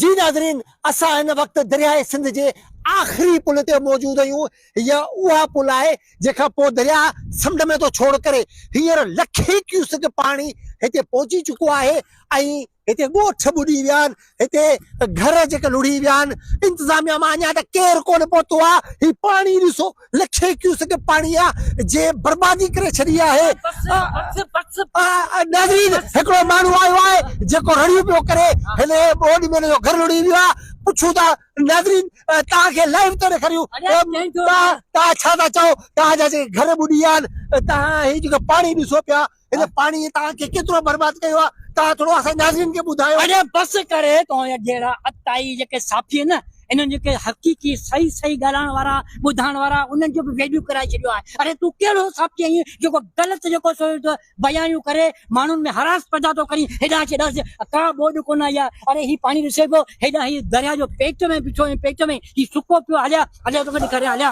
جي ناظرين اسان هن وقت درياهه سنڌ جي آخري پل تي موجود آهيون هيء اها پل آهي جنهن کان پوء درياهه سمنڊ ۾ ٿو ڇوڙ ڪري هينئر لکين ڪيوسڪ پاڻي هتي پهچي چڪو آهي ۽ هتي ڳوٺ ٻڏي ويا آهن هتي گهر جيڪي لڙهي ويا آهن انتظاميا مان اڃا ته ڪير ڪونه پهتو آهي هي پاڻي ڏسو لکين ڪيوسڪ پاڻي جي بربادي ڪري ڇڏي آهي ناظرين هڪڙو ماڻهو آيو آهي جيڪو رڙيون پيو ڪري هن ٻوڏ ۾ هن جو گهر لڙهي ويو آهي پڇون ٿا ناظرين توهان کي لائيو ٿا ڏيکاريون توهان ڇا ٿا چئو توهان جا جيڪي گهر ٻڏي ويا آهن توهان هي جيڪو پاڻي ڏسو پيا هن پاڻي توهان کي ڪيترو برباد ڪيو آهي توهان ٿورو اسان ناظرين کي ٻڌايو. اڙي بس ڪر توهان جهڙا عطائي جيڪي صافي آهن نه انهن جيڪي حقيقي صحيح صحيح ڳالهائڻ وارا ٻڌائڻ وارا انهن جو به ويليو ڪرائي ڇڏيو آهي اڙي تون ڪهڙو صافي آهين جيڪو غلط جيڪو سو بيانيون ڪري ماڻهن ۾ حراس پيدا ٿو ڪرين هيڏانهن اچي ڏس ڪا ٻوڏ ڪونه آئي آهي اڙي هي پاڻي ڏسي پيو هيڏانهن هي درياء جو پيٽ ۾ بيٺو آهين پيٽ ۾ هي سڪو پيو هليا هليا توکي ڏيکاريان هليا.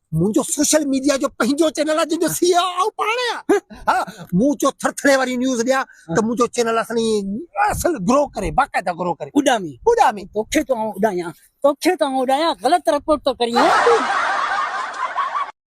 منهنجو سوشل ميڊيا جو پنهنجو چينل آ جنهنجو سي او آئون پاڻ آهيان ها مون چيو ٿر ٿري واري نيوز ڏيان ته منهنجو چينل اصل اصل گرو ڪري باقاعده گرو ڪري اڏامي اڏامي توکي ٿو آئون اڏايان توکي ٿو آئون اڏايان غلط رپورٽ ٿو ڪرين